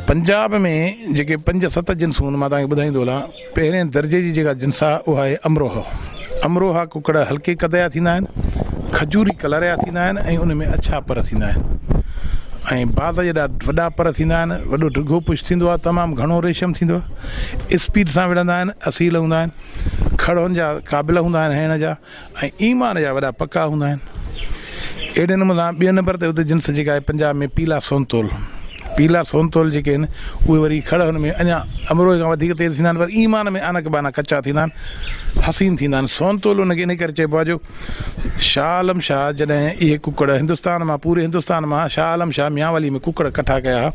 پنجاب ۾ جيڪي پنج ست جنسون آهن مان توهان کي ٻڌائيندو هلان. پهرين درجي جي جيڪا جنس آهي اها آهي امروهه. امروهه ڪڪڙ هلڪي قد جا ٿيندا آهن، کجوري ڪلر جا ٿيندا آهن ۽ انهن ۾ اڇا پر ٿيندا آهن ۽ باز جيڏا وڏا پر ٿيندا آهن، وڏو ڊگهو پڇ ٿيندو آهي، تمام گهڻو ريشم ٿيندو آهي، اسپيڊ سان وڙهندا آهن، اصيل هوندا آهن، کڙهن جا قابل هوندا آهن هڻڻ جا. ۽ ايمان جا وڏا پڪا هوندا آهن. اهڙي نموني سان ٻئي نمبر تي اتي جنس جيڪا آهي پنجاب ۾ پيلا سونتول، پيلا سونتول جيڪي آهن اهي وري کڙ هن ۾ اڃا امروهي کان وڌيڪ تيز ٿيندا آهن پر ايمان ۾ آنڪ بانڪ ڪچا ٿيندا آهن حسين ٿيندا آهن سونتول ان کي ان ڪري چئبو آهي جو شاهه عالم شاهه جڏهن اهي ڪڪڙ هندستان مان پوري هندستان مان شاهه عالم شاهه ميانوالي ۾ ڪڪڙ ڪٺا ڪيا ها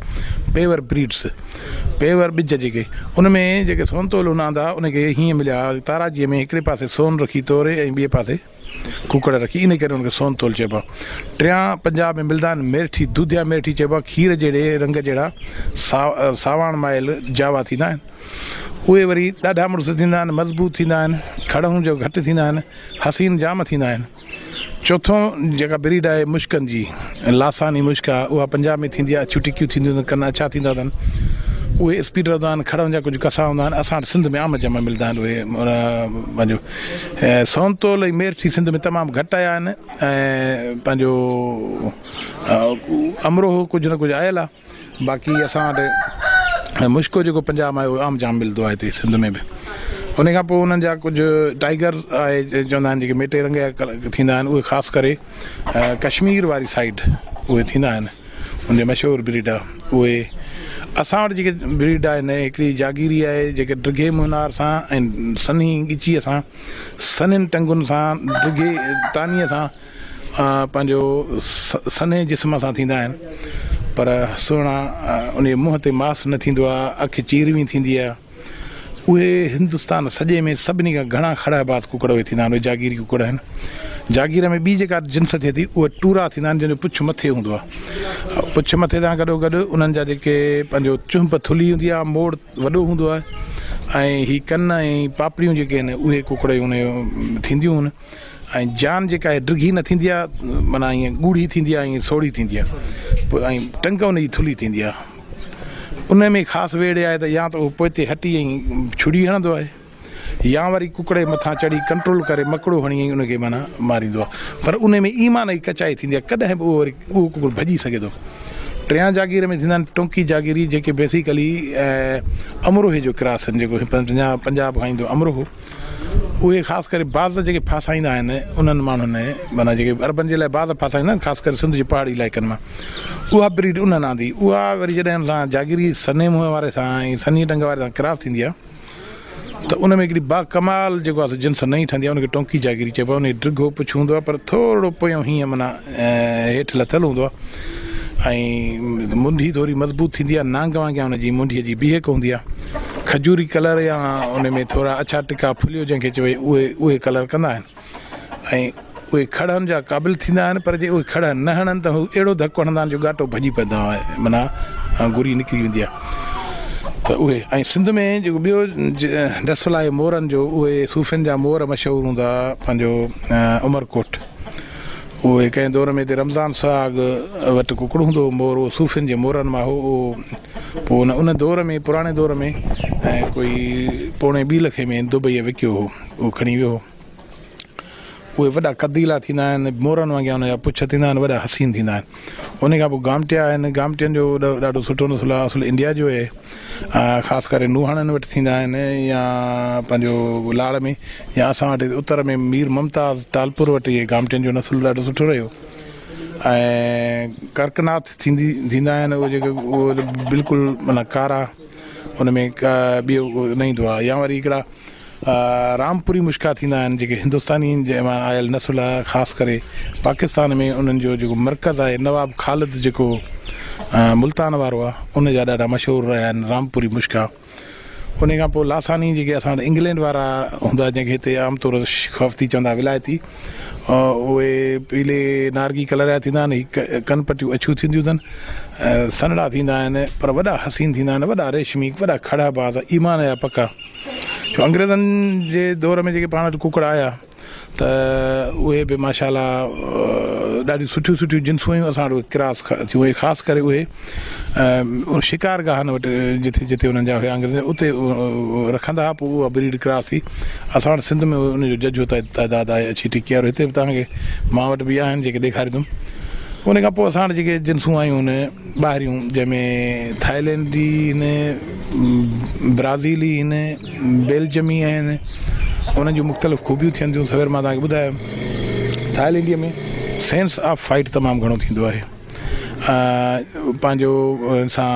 پيور بريڊس پيور ٻج جيڪي ان ۾ جيڪي سونتول هوندا آندا ان کي هيئن مليا تاراجيء ۾ هڪڙي پاسي سون رکي توري ۽ ٻئي پاسي ڪوڪڙ رکي ان ڪري ان کي سونتول چئبو آهي ٽيان پنجاب ۾ ملدا آهن ميرٺي دوديا ميرٺي چئبو آهي کير جهڙي رنگ جهڙا سا ساواڻ مائل جاوا ٿيندا آهن اهي وري ڏاڍا مڙس ٿيندا آهن مضبوط ٿيندا آهن کڙهون جو گهٽ ٿيندا آهن حسين جام ٿيندا آهن چوٿون جيڪا بريڊ آهي مشڪن جي لاساني مشڪ آهي اها پنجاب ۾ ٿيندي آهي اڇيون ٽڪيون ٿينديون اٿن ڪن اڇا ٿيندا اٿن اهي اسپيڊ رهندا آهن کڙن جا ڪجهه ڪسا هوندا آهن اسان وٽ سنڌ ۾ عام جمع ملدا آهن اهي پنهنجو سونتول ۽ ميرٺي سنڌ ۾ تمام گهٽ آيا آهن ۽ پنهنجو امروهو ڪجهه نه ڪجهه آيل آهي باقي اسان وٽ مشڪو جيڪو پنجاب مان آيو اهو عام جام ملندو آهي هتي سنڌ ۾ به ان کان پوء انهن جا ڪجهه ٽائيگر آهي جنهن چوندا آهن جيڪي ميٽي رنگ جا ٿيندا آهن اهي خاص ڪري ڪشمير واري سائيڊ اهي ٿيندا آهن ان جا مشهور بريڊ آهي اهي اسان وٽ جيڪي بريڊ آهي نه هڪڙي جاگيري آهي جيڪي ڊگهي مونار سان ۽ سنهي ڳچيء سان سنهين ٽنگن سان ڊگهي تانيء سان پنهنجو سنهي جسم سان ٿيندا آهن پر سهڻا ان جي منهن تي ماس نه ٿيندو آهي اک چيروين ٿيندي آهي اهي هندستان سڄي ۾ سڀني کان گهڻا کڙهه باز ڪڪڙ اهي ٿيندا آهن اهي جاگيري ڪڪڙ آهن جاگير ۾ ٻي جيڪا جنس ٿئي ٿي اهي ٽورا ٿيندا آهن جن جو پڇ مٿي هوندو آهي پڇ مٿي سان گڏو گڏ انهن جا جيڪي پنهنجو چهنپ ٿلهي هوندي آهي موڙ وڏو هوندو آهي ۽ هي ڪن ۽ پاپڙيون جيڪي آهن اهي ڪڪڙ جون ٿينديون آهن ۽ جان جيڪا آهي ڊگهي نه ٿيندي آهي معنيٰ ائين ڳوڙهي ٿيندي آهي ۽ سوڙهي ٿيندي آهي پوء ۽ ٽنگ ان جي ٿلهي ٿيندي آهي ان ۾ خاص ويڙهي آهي ته يا ته اهو پوئتي هٽي ۽ ڇڙي هڻندو آهي يا وري ڪڪڙي مٿان چڙهي ڪنٽرول ڪري مڪڙو هڻي ۽ ان کي معنيٰ ماريندو آهي پر ان ۾ ايمان جي ڪچائي ٿيندي آهي ڪڏهن به اهو وري اهو ڪڪڙ ڀڄي سگهي ٿو ٽيان جاگير ۾ ٿيندا آهن ٽونڪي جاگيري جيڪي بيسيڪلي امروهي جو ڪراس آهن جيڪو پنجاب کان ايندو امروهو اهي خاص ڪري باز جيڪي ڦاسائيندا آهن انهن ماڻهن معنيٰ جيڪي عربن جي لاء باز ڦاسائيندا آهن خاص ڪري سنڌ جي پهاڙي علائقن مان اها بريڊ انهن آندي اها وري جڏهن ان سان جاگيري سني منهن واري سان ۽ سني ٽنگ واري سان ڪراس ٿيندي آهي ته ان ۾ هڪڙي با ڪمال جيڪو آهي جنس نئين ٺهندي آهي ان کي ٽونڪي جاگيري چئبو آهي ان جي ڊگهو پڇ هوندو آهي پر ٿورڙو پويون هينئن معنيٰ هيٺ لٿل هوندو آهي ۽ منڍي ٿوري مضبوط ٿيندي آهي نانگ وانگيان ان جي منڍي جي بيهڪ هوندي آهي کجوري ڪلر يا ان ۾ ٿورا اڇا ٽڪا ڦليو جنهن کي چئبي اهي اهي ڪلر ڪندا آهن ۽ اهي کڙهن جا قابل ٿيندا آهن پر جي اهي کڙهه نه هڻن ته هو اهڙو ڌڪ هڻندا آهن جو ڳاٽو ڀڄي پئندا آهن معنيٰ گري نڪري ويندي آهي ته اهي ۽ سنڌ ۾ جيڪو ٻيو ڊسل آهي مورن جو اهي صوفين جا مور مشهور هوندا پنهنجو عمرڪوٽ اهي ڪنهن دور ۾ هتي رمضان سهاڳ وٽ ڪڪڙ هوندو هو مور اهو صوفين جي مورن مان هو اهو پوء ان ان دور ۾ پراڻي دور ۾ ڪوئي پوڻي ٻي لکي ۾ دبئي وڪيو هو اهو کڻي ويو هو اهي وڏا قديلا ٿيندا آهن مورن وانگيان ان جا پڇ ٿيندا آهن وڏا حسين ٿيندا آهن انهي کان پوء گامٽيا آهن، گامٽين جو ڏاڍو سٺو نسل آهي، اصل انڊيا جو اهي خاص ڪري نوحاڻن وٽ ٿيندا آهن يا پنهنجو لاڙ ۾ يا اسان وٽ اتر ۾ مير ممتاز ٽالپور وٽ اهي گامٽين جو نسل ڏاڍو سٺو رهيو ۽ ڪرڪناٿ ٿيندي ٿيندا آهن اهي جيڪي اهي بلڪل معنيٰ ڪارا ان ۾ ٻيو نه ايندو آهي يا وري هڪڙا رامپوري مشڪا ٿيندا آهن جيڪي هندستانين جي مان آيل نسل آ خاص ڪري پاڪستان ۾ انهن جو جيڪو مرڪز آهي نواب خالد جيڪو ملتان وارو آ ان جا ڏاڍا مشهور رهيا آهن رامپوري مشڪا ان کان پوء لاساني جيڪي اسان وٽ انگلينڊ وارا هوندا جنهن کي هتي عام طور خفتي چوندا ولايتي اهي پيلي نارگي ڪلر جا ٿيندا آهن هڪ ڪن پٽيون اڇيون ٿينديون اٿن سنهڙا ٿيندا آهن پر وڏا حسين ٿيندا آهن وڏا ريشمي وڏا کڙهه باز ايمان جا پڪا جو انگريزن جي دور ۾ جيڪي پاڻ وٽ ڪڪڙ آيا ته اهي به ماشاءالله ڏاڍيون سٺيون سٺيون جنسون هيون اسان وٽ ڪراس ٿيون اهي خاص ڪري اهي شڪار گاهن وٽ جتي جتي انهن جا هيا انگريز اتي رکندا هئا پوء اها بريڊ ڪراس ٿي اسان وٽ سنڌ ۾ ان جو ججهو تعداد آهي اچي ٽڪي وارو هتي به تهانکي مان وٽ به آهن جيڪي ڏيکاريندم ان کان پوء اسان وٽ جيڪي جنسون آيون ٻاهريون جنهن ۾ ٿائلينڊي آهن، برازيلي آهن، بيلجمي آهن انهن جون مختلف خوبيون ٿين ٿيون سوير مان توهان کي ٻڌايم ٿائلينڊي ۾ سينس آف فائيٽ تمام گهڻو ٿيندو آهي پنهنجو انسان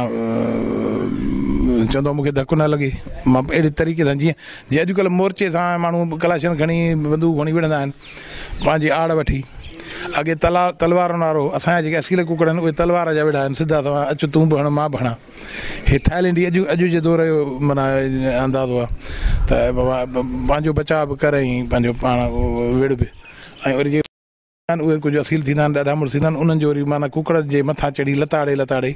چوندو آهي مون کي ڌڪ نه لڳي مان اهڙي طريقي سان جيئن جي اڄڪلهه مورچي سان ماڻهو ڪلاشن کڻي بندوق کڻي وڙهندا آهن پنهنجي آڙ وٺي اڳي تلار تلوارن وارو اسان جا جيڪي اصيل ڪڪڙ آهن اهي تلوار جا ويڙها آهن سڌا سوا اچ تون به هڻ مان به هڻان هي ٿائلينڊي اڄ اڄ جي دور جو معنيٰ اندازو آهي ته بابا پنهنجو بچاء به ڪر ۽ پنهنجو پاڻ وڙهه به ۽ وري جي اهي ڪجهه اصيل ٿيندا آهن ڏاڍا مڙس ٿيندا آهن انهن جو وري معنيٰ ڪڪڙ جي مٿان چڙهي لتاڙي لتاڙي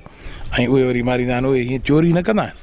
۽ اهي وري ماريندا آهن اهي هيئن چوري نه ڪندا آهن